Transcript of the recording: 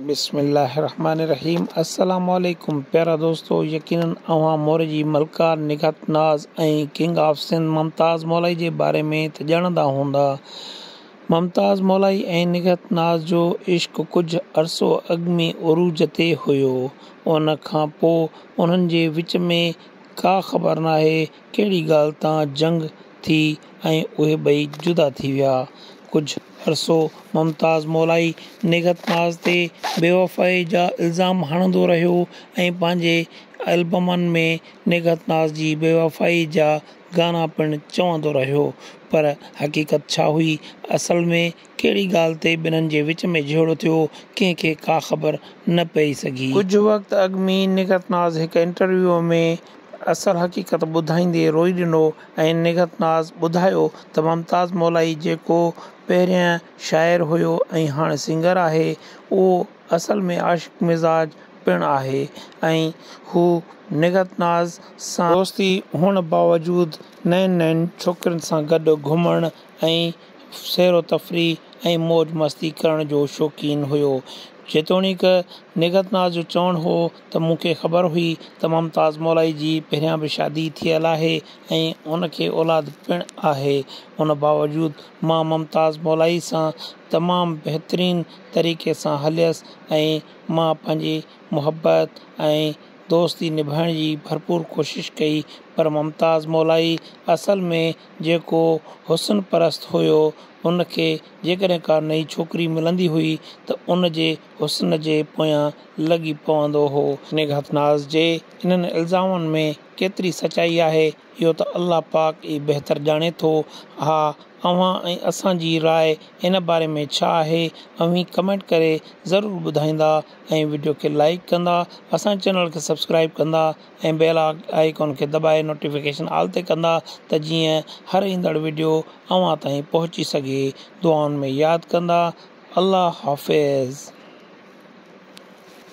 بسم الله الرحمٰن الرحيم السلام عليڪم پيارا دوستو يقينن اوهان مور جي ملڪار نگهت ناز ۽ ڪنگ آف سنڌ ممتاز مولائي جي باري ۾ ته ڄاڻندا هوندا ممتاز مولائي ۽ نگهت ناز جو عشق ڪجهه عرصو اڳ ۾ عروج تي هيو ان کان پو انهن جي وچ ۾ ڪا خبر ناهي ڪهڙي ڳالهه تان جنگ ٿي ۽ اهي ٻئي جدا ٿي ويا. ڪجهه عرصو ممتاز مولائي نگهت ناز تي بيوفائي جا الزام هڻندو رهيو ۽ پنهنجي البمن ۾ نگهت ناز جي بيوفائي جا گانا پڻ چوندو رهيو پر حقيقت ڇا هئي اصل ۾ ڪهڙي ڳالهه تي ٻنهن جي وچ ۾ جهيڙو ٿيو، ڪنهن کي ڪا خبر نه پئي سگهي. ڪجهه وقت اڳ مين نگهت ناز هڪ انٽرويو ۾ اصل حقيقت ٻڌائيندي روئي ڏنو ۽ نگهت ناز ٻڌايو ته ممتاز مولائي جيڪو پهرين شاعر هيو ۽ هاڻي سنگر آهي، اهو اصل ۾ عاشق مزاج پڻ آهي ۽ هو نگهت ناز سان. دوستي هئڻ باوجود نين نين ڇوڪرين سان گڏ گهمڻ ۽ سير و تفريح ۽ موج مستي ڪرڻ جو شوقين هيو. جيتوڻيڪ نگهت ناز جو چوڻ هو ته مون کي خبر هئي ته ممتاز مولائي جي پهريان به شادي ٿيل آهي ۽ ان کي اولاد پڻ آهي ان باوجود مان ممتاز مولائي سان تمام بهترين طريقي سان هليس ۽ مان پنهنجي محبت ۽ دوستي نڀائڻ جي ڀرپور ڪوشش ڪئي پر ممتاز مولائي اصل ۾ جيڪو حسن پرست هيو، ان کي جيڪڏهن ڪا نئين ڇوڪري ملندي هئي ته ان جي حسن جي پويان لڳي پوندو هو. نگهت ناز جي انهن الزامن ۾ ڪيتري سچائي آهي، اهو ته الله پاڪ ئي بهتر ڄاڻي ٿو. اها اوهان ۽ اسان جي راء ان باري ۾ ڇا آهي، اوهين ڪمينٽ ڪري ضرور ٻڌائيندا ۽ وڊيو کي لائيڪ ڪندا، اسان جي چينل کي سبسڪرائيب ڪندا. ۽ بيل آئيڪان کي دٻائي نوٽيفڪيشن آل تي ڪندا ته جيئن هر ايندڙ وڊيو اوهان تائين پهچي سگهي دعائن ۾ ياد ڪندا الله حافظ.